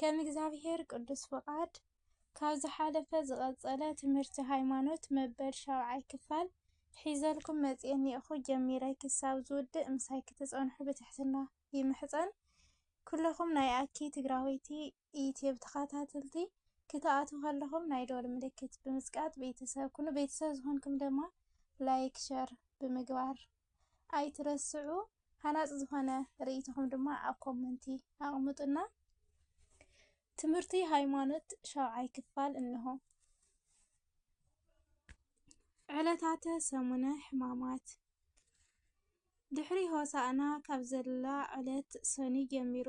ከም እግዚኣብሔር ቅዱስ ፍቓድ ካብ ዝሓለፈ ዝቐጸለ ትምህርቲ ሃይማኖት መበል ሻብዓይ ክፋል ሒዘልኩም መጽኤኒ እኹ ጀሚረ ክሳብ ዝውድእ ምሳይ ክትጸንሑ ብትሕትና ይምሕጸን። ኩለኹም ናይ ኣኪ ትግራወይቲ ዩትዩብ ተኸታተልቲ ክትኣትዉ ከለኹም ናይ ደወል ምልክት ብምጽቃጥ ቤተሰብ ኩኑ። ቤተሰብ ዝኾንኩም ድማ ላይክ ሸር ብምግባር ኣይትረስዑ ሃናጺ ዝኾነ ርእይቶኹም ድማ ኣብ ኮመንቲ ኣቅምጡልና። ትምህርቲ ሃይማኖት ሻውዓይ ክፋል እንሆ። ዕለታተ ሰሙነ ሕማማት ድሕሪ ሆሳእና ካብ ዘላ ዕለት ሰኑይ ጀሚሩ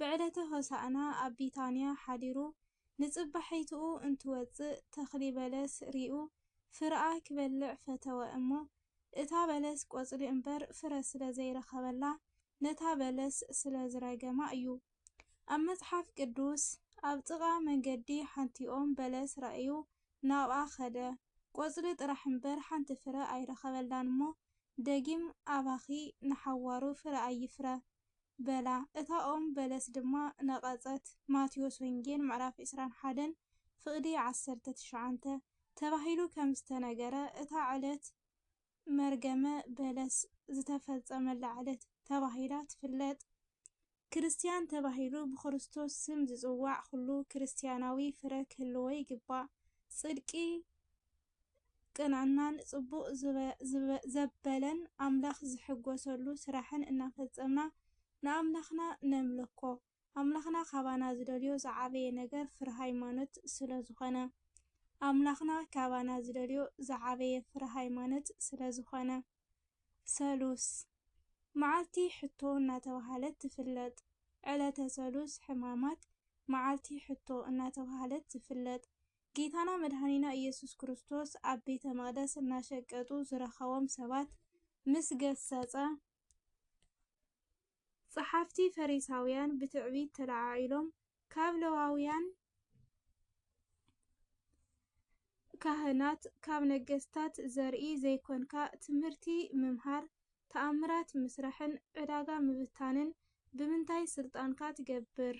ብዕለተ ሆሳእና ኣብ ቢታንያ ሓዲሩ ንጽባሒትኡ እንትወጽእ ተኽሊ በለስ ሪኡ ፍረኣ ኪበልዕ ፈተወ እሞ እታ በለስ ቆጽሊ እምበር ፍረ ስለ ዘይረኸበላ ነታ በለስ ስለ ዝረገማ እዩ። ኣብ መጽሓፍ ቅዱስ ኣብ ጥቓ መንገዲ ሓንቲ ኦም በለስ ረኣዩ ናብኣ ከደ ቆጽሊ ጥራሕ እምበር ሓንቲ ፍረ ኣይረኸበላን እሞ ደጊም ኣባኺ ንሓዋሩ ፍረ ኣይፍረ በላ፣ እታ ኦም በለስ ድማ ነቐጸት። ማቴዎስ ወንጌል ምዕራፍ ዕስራን ሓደን ፍቕዲ ዓሰርተ ትሽዓንተ ተባሂሉ ከም ዝተነገረ እታ ዕለት መርገመ በለስ ዝተፈጸመላ ዕለት ተባሂላ ትፍለጥ። ክርስትያን ተባሂሉ ብክርስቶስ ስም ዝጽዋዕ ኹሉ ክርስትያናዊ ፍረ ክህልዎ ይግባእ። ጽድቂ። ቅንዕናን ፅቡቕ ዘበለን ኣምላኽ ዝሕጎሰሉ ስራሕን እናፈፀምና ንኣምላኽና ነምልኮ። ኣምላኽና ካባና ዝደልዮ ዝዓበየ ነገር ፍረ ሃይማኖት ስለዝኾነ። ኣምላኽና ካባና ዝደልዮ ዝዓበየ ፍረ ሃይማኖት ስለዝኾነ። ሰሉስ፣ መዓልቲ ሕቶ እናተብሃለት ትፍለጥ። ዕለተ ሰሉስ ሕማማት መዓልቲ ሕቶ እናተብሃለት ትፍለጥ። ጌታና መድሓኒና እየሱስ ክርስቶስ ኣብ ቤተ መቅደስ እናሸቀጡ ዝረከቦም ሰባት ምስ ገሰጸ፣ ጸሓፍቲ ፈሪሳውያን ብትዕቢት ተለዓዒሎም ካብ ለዋውያን ካህናት ካብ ነገስታት ዘርኢ ዘይኮንካ ትምህርቲ ምምሃር ተኣምራት ምስራሕን ዕዳጋ ምብታንን ብምንታይ ስልጣንካ ትገብር?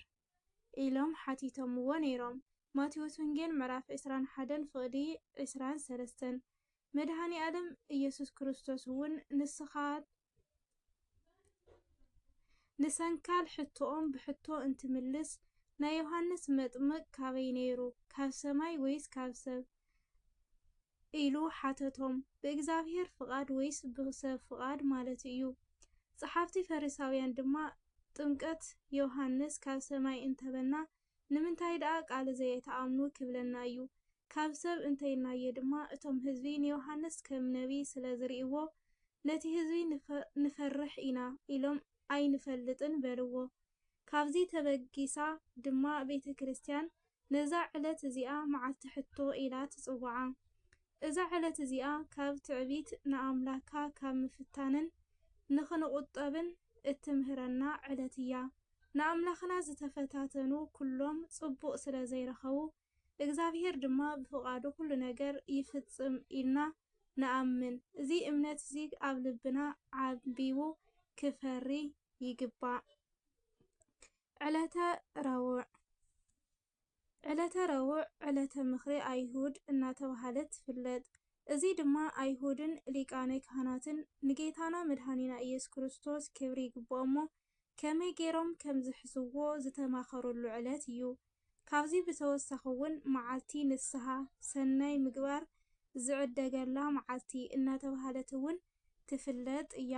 ኢሎም ሓቲቶምዎ ነይሮም። ማቴዎስ ወንጌል ምዕራፍ ዕስራን ሓደን ፍቕዲ ዕስራን ሰለስተን። መድኃኔዓለም ኢየሱስ ክርስቶስ'ውን ንስኻ ንሰንካል ሕቶኦም ብሕቶ እንትምልስ ናይ ዮሓንስ መጥምቕ ካበይ ነይሩ ካብ ሰማይ ወይስ ካብ ሰብ? ኢሉ ሓተቶም፣ ብእግዚኣብሄር ፍቓድ ወይስ ብሰብ ፍቓድ ማለቱ እዩ። ጸሓፍቲ ፈሪሳውያን ድማ፣ ጥምቀት ዮሃንስ ካብ ሰማይ እንተ በልና፣ ንምንታይ ደኣ ቃሉ ዘየትኣምኑ ኪብለና እዩ። ካብ ሰብ እንተ ኢልናዮ ድማ፣ እቶም ህዝቢ ንዮሃንስ ከም ነብዪ ስለ ዚርእይዎ፣ ነቲ ህዝቢ ንፈርሕ ኢና ኢሎም ኣይንፈልጥን በልዎ። ካብዚ ተበጊሳ ድማ ቤተ ክርስትያን ነዛ ዕለት እዚኣ መዓልቲ ሕቶ ኢላ ትጽውዓ። እዛ ዕለት እዚኣ ካብ ትዕቢት ንኣምላካ ካብ ምፍታንን ንክንቁጠብን እትምህረና ዕለት እያ። ንኣምላክና ዝተፈታተኑ ኩሎም ጽቡቅ ስለ ዘይረከቡ እግዝኣብሄር ድማ ብፍቃዱ ኩሉ ነገር ይፍጽም ኢልና ንኣምን። እዚ እምነት እዚ ኣብ ልብና ዓንቢቡ ክፈሪ ይግባእ። ዕለተ ረቡዕ ዕለተ ረቡዕ ዕለተ ምኽሪ ኣይሁድ እናተብሃለት ትፍለጥ። እዚ ድማ ኣይሁድን ሊቃነ ካህናትን ንጌታና መድኃኒና ኢየሱስ ክርስቶስ ክብሪ ይግብኦ'ሞ ከመይ ገይሮም ከም ዝሕስዎ ዝተማኸሩሉ ዕለት እዩ። ካብዚ ብተወሳኺ'ውን መዓልቲ ንስሓ፣ ሠናይ ምግባር ዝዕደገላ መዓልቲ እናተብሃለት'ውን ትፍለጥ እያ።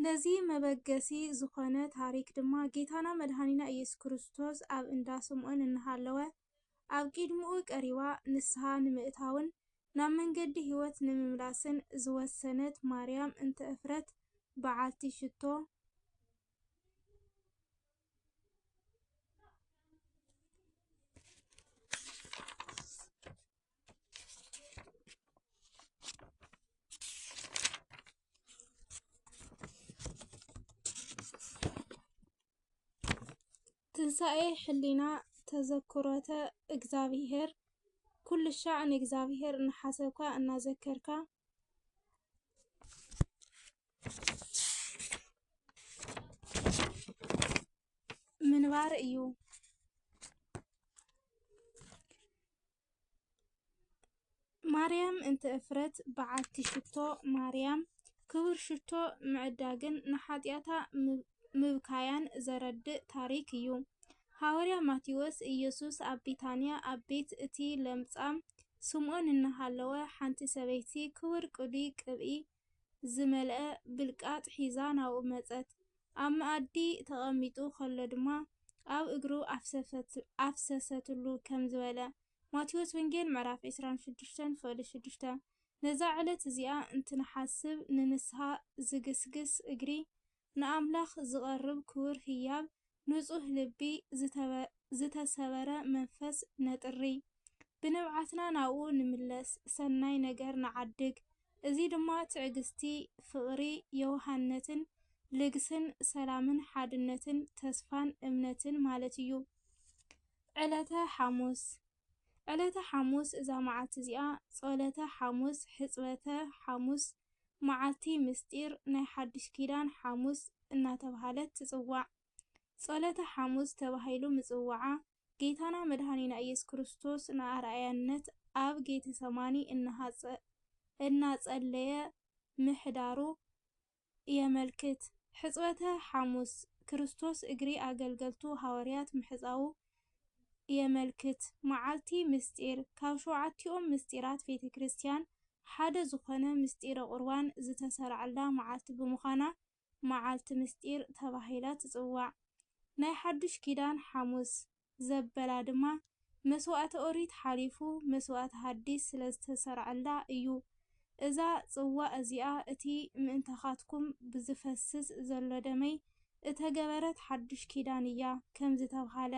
ነዚ መበገሲ ዝኾነ ታሪኽ ድማ ጌታና መድኃኒና ኢየሱስ ክርስቶስ ኣብ እንዳ ስምዖን እናሃለወ ኣብ ቂድምኡ ቀሪባ ንስሓ ንምእታውን ናብ መንገዲ ሕይወት ንምምላስን ዝወሰነት ማርያም እንተ እፍረት በዓልቲ ሽቶ ትንሣኤ ሕሊና ተዘክሮተ እግዚኣብሔር ኩሉ ሻዕ ንእግዚኣብሔር እናሓሰብካ እናዘከርካ ምንባር እዩ። ማርያም እንተ እፍረት በዓቲ ሽቶ ማርያም ክቡር ሽቶ ምዕዳግን ንሓጢኣታ ምብካያን ዘረድእ ታሪኽ እዩ። ሃዋርያ ማቴዎስ፣ ኢየሱስ ኣብ ቢታንያ ኣብ ቤት እቲ ለምጻም ስምዖን እናሃለወ ሓንቲ ሰበይቲ ክቡር ቅዱይ ቅብኢ ዝመልአ ብልቃጥ ሒዛ ናብኡ መጸት። ኣብ መኣዲ ተቐሚጡ ከሎ ድማ ኣብ እግሩ ኣፍሰሰትሉ ከም ዝበለ፣ ማቴዎስ ወንጌል ምዕራፍ ዕስራን ሽዱሽተን ፍቕዲ ሽዱሽተ። ነዛ ዕለት እዚኣ እንትንሓስብ ንንስሃ ዝግስግስ እግሪ ንኣምላኽ ዝቐርብ ክቡር ህያብ፣ ንጹህ ልቢ፣ ዝተሰበረ መንፈስ ነጥሪ። ብንብዓትና ናብኡ ንምለስ፣ ሰናይ ነገር ንዓድግ። እዚ ድማ ትዕግስቲ፣ ፍቕሪ፣ የውሃነትን፣ ልግስን፣ ሰላምን፣ ሓድነትን፣ ተስፋን፣ እምነትን ማለት እዩ። ዕለተ ሓሙስ። ዕለተ ሓሙስ እዛ መዓልቲ እዚኣ ጾለተ ሓሙስ፣ ሕጽበተ ሓሙስ፣ መዓልቲ ምሥጢር ናይ ሓድሽ ኪዳን ሓሙስ እናተብሃለት ትጽዋዕ። ጾለተ ሓሙስ ተባሂሉ ምጽዋዓ ጌታና መድኃኒና ኢየሱስ ክርስቶስ ንኣርኣያነት ኣብ ጌተሰማኒ እናሃጸ እናጸለየ ምሕዳሩ የመልክት። ሕጽበተ ሓሙስ፣ ክርስቶስ እግሪ ኣገልገልቱ ሃዋርያት ምሕጻዉ የመልክት። መዓልቲ ምሥጢር፣ ካብ ሸውዓቲኦም ምሥጢራት ቤተ ክርስቲያን ሓደ ዝኾነ ምሥጢረ ቁርባን ዝተሠርዐላ መዓልቲ ብምዃና መዓልቲ ምሥጢር ተባሂላ ትጽዋዕ። ናይ ሓዱሽ ኪዳን ሓሙስ፣ ዘበላ ድማ መስዋእቲ ኦሪት ሓሊፉ መስዋእቲ ሃዲስ ስለ ዝተሰርዐላ እዩ። እዛ ጽዋእ እዚኣ እቲ ምእንታኻትኩም ብዝፈስስ ዘሎ ደመይ እተገበረት ሓዱሽ ኪዳን እያ ከም ዝተብሃለ፣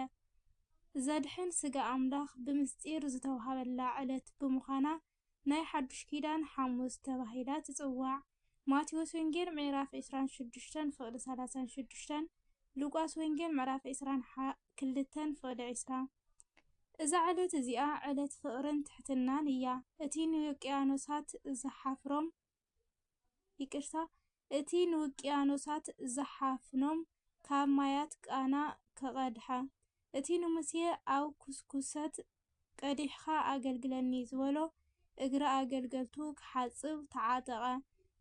ዘድሕን ስጋ ኣምላኽ ብምስጢር ዝተውሃበላ ዕለት ብምዃና ናይ ሓዱሽ ኪዳን ሓሙስ ተባሂላ ትጽዋዕ፣ ማቴዎስ ወንጌል ምዕራፍ ዕስራን ሽዱሽተን ፍቕዲ ሰላሳን ሽዱሽተን፣ ሉቃስ ወንጌል ምዕራፍ ዕስራን ሓ ክልተን ፍቕዲ ዕስራ። እዛ ዕለት እዚኣ ዕለት ፍቕርን ትሕትናን እያ፣ እቲ ንውቅያኖሳት ዝሓፍሮም ይቅርታ፣ እቲ ንውቅያኖሳት ዝሓፍኖም ካብ ማያት ቃና ከቐድሓ፣ እቲ ንሙሴ ኣብ ኩስኩሰት ቀዲሕካ ኣገልግለኒ ዝበሎ እግሪ ኣገልገልቱ ክሓጽብ ተዓጠቐ።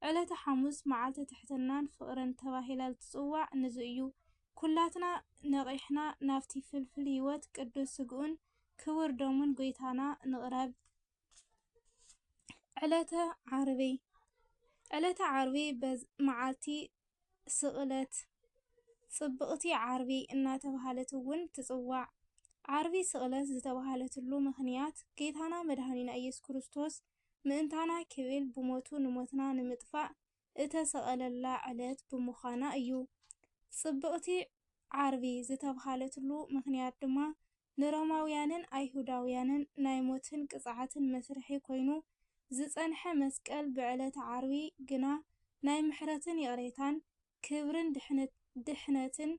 ዕለተ ሓሙስ መዓልቲ ትሕትናን ፍቕርን ተባሂላ ዝትጽዋዕ ንዚ እዩ። ኩላትና ነቒሕና ናብቲ ፍልፍል ሕይወት ቅዱስ ስግኡን ክቡር ደሙን ጎይታና ንቕረብ። ዕለተ ዓርቢ፣ ዕለተ ዓርቢ መዓልቲ ስቕለት፣ ፅብቕቲ ዓርቢ እናተብሃለት እውን ትፅዋዕ። ዓርቢ ስቕለት ዝተብሃለትሉ ምኽንያት ጌታና መድሓኒና ኢየሱስ ክርስቶስ ምእንታና ክብል ብሞቱ ንሞትና ንምጥፋእ እተሰቐለላ ዕለት ብምዃና እዩ። ጽብቕቲ ዓርቢ ዝተብሃለትሉ ምኽንያት ድማ፣ ንሮማውያንን ኣይሁዳውያንን ናይ ሞትን ቅጽዓትን መስርሒ ኰይኑ ዝጸንሐ መስቀል ብዕለተ ዓርቢ ግና ናይ ምሕረትን ይቕሬታን፣ ክብርን ድሕነትን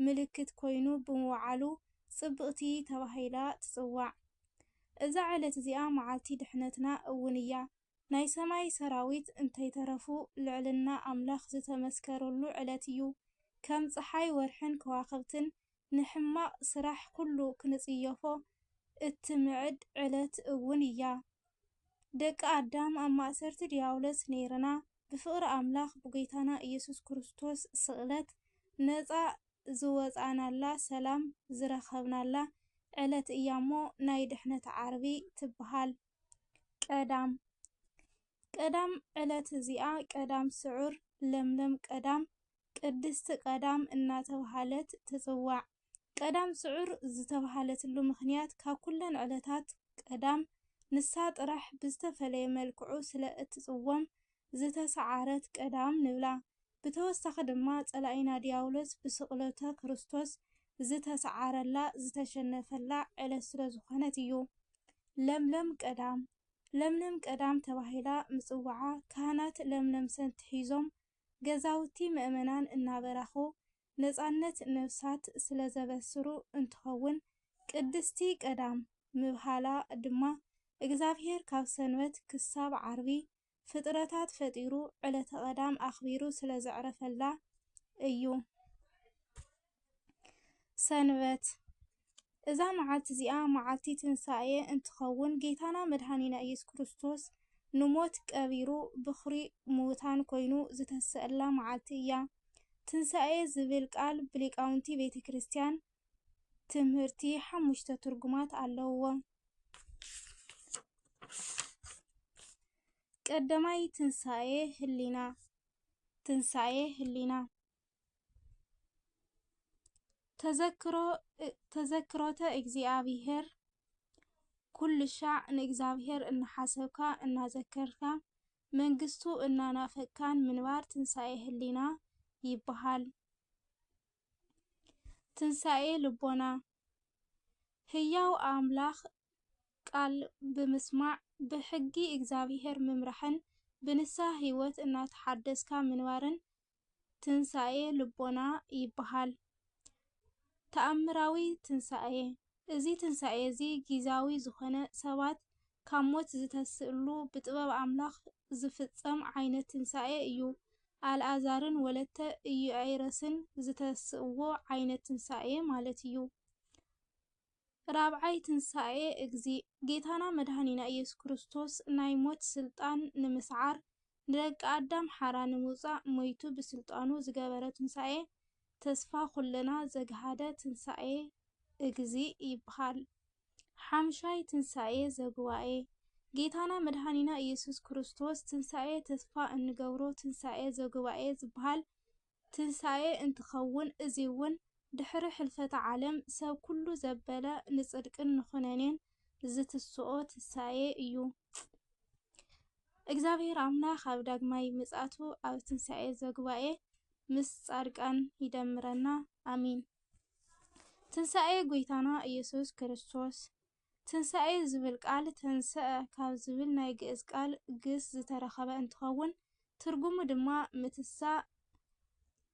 ምልክት ኰይኑ ብምውዓሉ ጽብቕቲ ተባሂላ ትጽዋዕ። እዛ ዕለት እዚኣ መዓልቲ ድሕነትና እውን እያ። ናይ ሰማይ ሰራዊት እንተይተረፉ ልዕልና ኣምላኽ ዝተመስከረሉ ዕለት እዩ። ከም ጸሓይ ወርሕን ከዋኽብትን ንሕማቕ ስራሕ ኩሉ ክንጽየፎ እትምዕድ ዕለት እውን እያ። ደቂ ኣዳም ኣብ ማእሰርቲ ድያብሎስ ነይርና ብፍቕሪ ኣምላኽ ብጐይታና ኢየሱስ ክርስቶስ ስቕለት ነጻ ዝወጻእናላ ሰላም ዝረኸብናላ ዕለት እያ እሞ ናይ ድሕነት ዓርቢ ትበሃል። ቀዳም ቀዳም ዕለት እዚኣ ቀዳም ስዑር፣ ለምለም ቀዳም፣ ቅድስቲ ቀዳም እናተብሃለት ትጽዋዕ። ቀዳም ስዑር ዝተብሃለትሉ ምኽንያት ካብ ኩለን ዕለታት ቀዳም ንሳ ጥራሕ ብዝተፈለየ መልክዑ ስለ እትጽወም ዝተሰዓረት ቀዳም ንብላ። ብተወሳኺ ድማ ጸላኢና ድያብሎስ ብስቕለተ ክርስቶስ ዝተሰዓረላ፣ ዝተሸነፈላ፣ ዕለት ስለዝኾነት እዩ። ለምለም ቀዳም ለምለም ቀዳም ተባሂላ ምጽዋዓ ካህናት ለምለም ሰቲ ሒዞም ገዛውቲ ምእመናን እናበራኹ ነጻነት ነፍሳት ስለዘበስሩ እንትኸውን ቅድስቲ ቀዳም ምብሃላ ድማ እግዚኣብሔር ካብ ሰንበት ክሳብ ዓርቢ ፍጥረታት ፈጢሩ ዕለተ ቀዳም ኣኽቢሩ ስለ ዘዕረፈላ እዩ ሰንበት እዛ መዓልቲ እዚኣ መዓልቲ ትንሣኤ እንትኸውን ጌታና መድኃኒና ኢየሱስ ክርስቶስ ንሞት ቀቢሩ ብኽሪ ምዉታን ኮይኑ ዝተሰእላ መዓልቲ እያ። ትንሣኤ ዝብል ቃል ብሊቃውንቲ ቤተ ክርስቲያን ትምህርቲ ሓሙሽተ ትርጉማት ኣለውዎ። ቀዳማይ ትንሳኤ ህሊና ትንሳኤ ህሊና ተዘክሮ ተዘክሮተ እግዚኣብሔር ኩሉ ሻዕ ንእግዚኣብሔር እናሓሰብካ እናዘከርካ መንግስቱ እናናፈቅካን ምንባር ትንሣኤ ህሊና ይበሃል። ትንሳኤ ልቦና ህያው ኣምላኽ ቃል ብምስማዕ ብሕጊ እግዚኣብሔር ምምራሕን ብንስሃ ህይወት እናተሓደስካ ምንባርን ትንሳኤ ልቦና ይበሃል። ተኣምራዊ ትንሳኤ! እዚ ትንሳኤ እዚ ጊዛዊ ዝኾነ ሰባት ካብ ሞት ዝተስእሉ ብጥበብ ኣምላኽ ዝፍጸም ዓይነት ትንሳኤ እዩ። ኣልኣዛርን ወለተ ኢዩኣይረስን ዝተስእዎ ዓይነት ትንሳኤ ማለት እዩ። ራብዓይ ትንሳኤ እግዚእ። ጌታና መድኃኒና ኢየሱስ ክርስቶስ ናይ ሞት ሥልጣን ንምስዓር ንደቂ ኣዳም ሓራ ንምውጻእ ሞይቱ ብስልጣኑ ዝገበረ ትንሳኤ ተስፋ ኩልና ዘግሃደ ትንሳኤ እግዚእ ይብሃል። ሓምሻይ ትንሳኤ ዘጉባኤ ጌታና መድኃኒና ኢየሱስ ክርስቶስ ትንሳኤ ተስፋ እንገብሮ ትንሳኤ ዘጉባኤ ዝብሃል ትንሣኤ እንትኸውን እዙይ'ውን ድኅሪ ኅልፈተ ዓለም ሰብ ኩሉ ዘበለ ንጽድቅን ንኩነኔን ዝትስኦ ትንሣኤ እዩ። እግዚኣብሔር ኣምላክ ኣብ ዳግማይ ምጽኣቱ ኣብ ትንሣኤ ዘጉባኤ ምስ ጻድቃን ይደምረና ኣሜን። ትንሣኤ ጐይታና ኢየሱስ ክርስቶስ ትንሳኤ ዝብል ቃል ተንሰኣ ካብ ዝብል ናይ ግእዝ ቃል ግስ ዝተረኸበ እንትኸውን ትርጉሙ ድማ ምትሳእ፣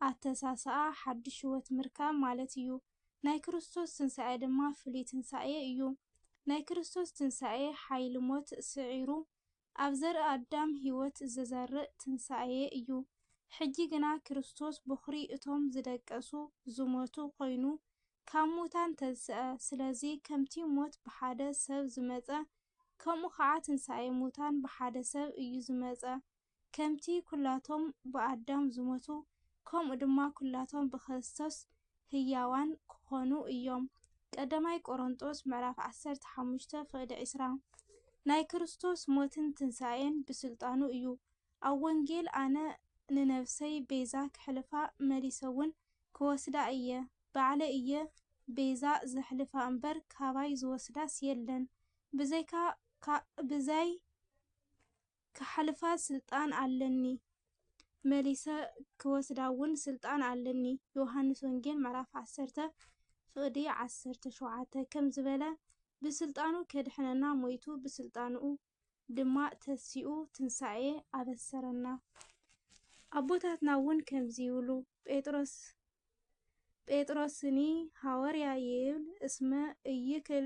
ኣተሳስኣ፣ ሓዱሽ ህይወት ምርካብ ማለት እዩ። ናይ ክርስቶስ ትንሳኤ ድማ ፍሉይ ትንሳኤ እዩ። ናይ ክርስቶስ ትንሳኤ ሓይሊ ሞት ስዒሩ ኣብ ዘርኢ ኣዳም ሕይወት ዘዘርእ ትንሣኤ እዩ። ሕጂ ግና ክርስቶስ ቦኽሪ እቶም ዝደቀሱ፣ ዝሞቱ፣ ኮይኑ ካብ ሙታን ተንሥኣ። ስለዚ ከምቲ ሞት ብሓደ ሰብ ዝመጸ ከምኡ ኸዓ ትንሣኤ ሙታን ብሓደ ሰብ እዩ ዝመጸ። ከምቲ ኩላቶም ብኣዳም ዝሞቱ ከምኡ ድማ ኩላቶም ብክርስቶስ ህያዋን ክኾኑ እዮም። ቀዳማይ ቆሮንጦስ ምዕራፍ ዓሰርተ ሓሙሽተ ፍቕዲ ዕስራ ናይ ክርስቶስ ሞትን ትንሣኤን ብሥልጣኑ እዩ። ኣብ ወንጌል ኣነ ንነፍሰይ ቤዛ ክሕልፋ መሊሰውን ክወስዳ እየ፣ ባዕለይ እየ ቤዛ ዘሕልፋ እምበር ካባይ ዝወስዳስ የለን ብዘይካ ብዛይ ክሓልፋ ስልጣን ኣለኒ መሊሰ ክወስዳ ውን ስልጣን ኣለኒ ዮውሃንስ ወንጌል ምዕራፍ ዓሰርተ ፍቅዲ ዓሰርተ ሸውዓተ ከም ዝበለ ብስልጣኑ ከድሕነና ሞይቱ ብስልጣንኡ ድማ ተሲኡ ትንሳኤ ኣበሰረና ኣቦታትና ውን ከምዚ ይብሉ ጴጥሮስ ጴጥሮስኒ ሃወርያ ይብል እስመ እይክል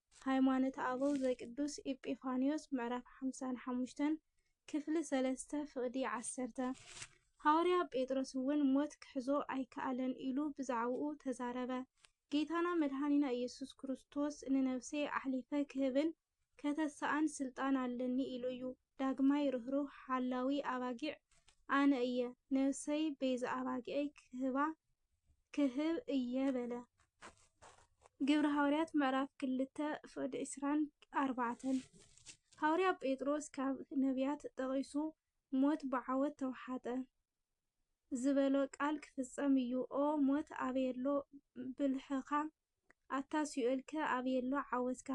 ሃይማኖተ ኣበው ዘቅዱስ ኤጲፋንዮስ ምዕራፍ ሓምሳን ሓሙሽተን ክፍሊ ሰለስተ ፍቕዲ ዓሰርተ ሃዋርያ ጴጥሮስ እውን ሞት ክሕዞ ኣይከኣለን ኢሉ ብዛዕባኡ ተዛረበ። ጌታና መድኃኒና ኢየሱስ ክርስቶስ ንነፍሰይ ኣሕሊፈ ክህብን ከተሳእን ሥልጣን ኣለኒ ኢሉ እዩ። ዳግማይ ርህሩህ ሓላዊ ኣባጊዕ ኣነ እየ፣ ነብሰይ ቤዛ ኣባጊዐይ ክህባ ክህብ እየ በለ። ግብሪ ሃዋርያት ምዕራፍ ክልተ ፍቅዲ ዕስራን ኣርባዕተን ሃዋርያ ጴጥሮስ ካብ ነብያት ጠቂሱ ሞት ብዓወት ተውሓጠ ዝበሎ ቃል ክፍጸም እዩ ኦ ሞት ኣበየሎ ብልሕኻ ኣታ ሲኦልከ ኣበየሎ ዓወትካ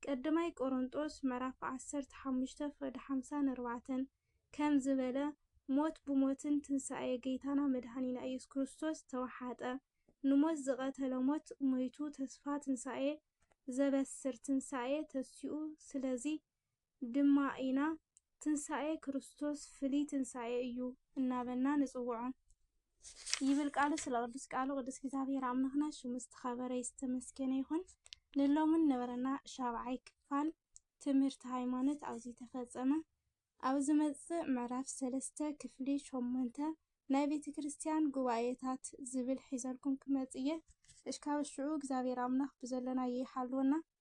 ቀድማይ ቆሮንጦስ ምዕራፍ ዓሰርተ ሓሙሽተ ፍቅዲ ሓምሳን ኣርባዕተን ከም ዝበለ ሞት ብሞትን ትንሳኤ ገይታና መድኃኒና ኢየሱስ ክርስቶስ ተወሓጠ ንሞት ዝቀተለ ሞት ሞይቱ ተስፋ ትንሳኤ ዘበስር ትንሳኤ ተሲኡ ስለዚ ድማ ኢና ትንሣኤ ክርስቶስ ፍልይ ትንሣኤ እዩ እናበልና ንጽውዖ። ይብል ቃሉ ስለ ቅዱስ ቃሉ ቅዱስ እግዚኣብሔር ኣምላኽና ሽሙ ዝተኸበረ ዝተመስገነ ይኹን። ንሎምን ነበረና ሻብዓይ ክፋል ትምህርቲ ሃይማኖት ኣብዚ ተፈጸመ። ኣብ ዝመጽእ ምዕራፍ ሰለስተ ክፍሊ ሸሞንተ ናይ ቤተ ክርስቲያን ጉባኤታት ዝብል ሒዘልኩም ክመጽእ እየ። እስካብ ሽዑ እግዚኣብሔር ኣምላኽ ብዘለናዮ ይሓልወና።